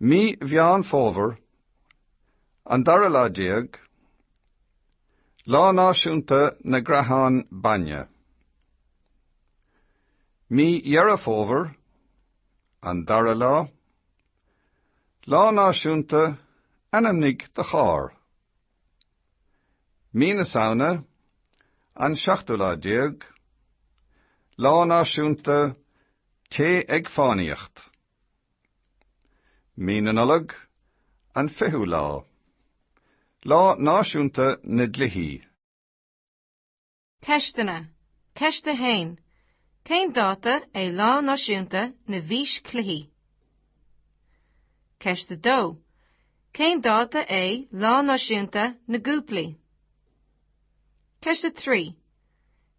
Mí Mheán Fómhair, an dara lá déag, Lá Náisiúnta na gCreathán Bainne. Mí Dheireadh Fómhair, an dara lá, Lá Náisiúnta Ainmnigh do Charr. Mí na Samhna, an seachtú lá déag, Lá Náisiúnta Téigh ag Fánaíocht. Mí na Nollag, an fichiú lá, Lá Náisiúnta na nDlíthí. Ceisteanna, Ceist 1. Cén dáta é Lá Náisiúnta na bhFíschluichí? Ceist 2. Cén dáta é Lá Náisiúnta na gCúplaí? Ceist 3.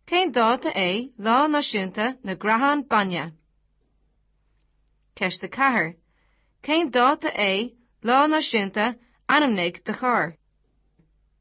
Cén dáta é Lá Náisiúnta na gCreathán Bainne? Ceist 4. Cén dáta é Lá Náisiúnta Ainmnigh do Charr?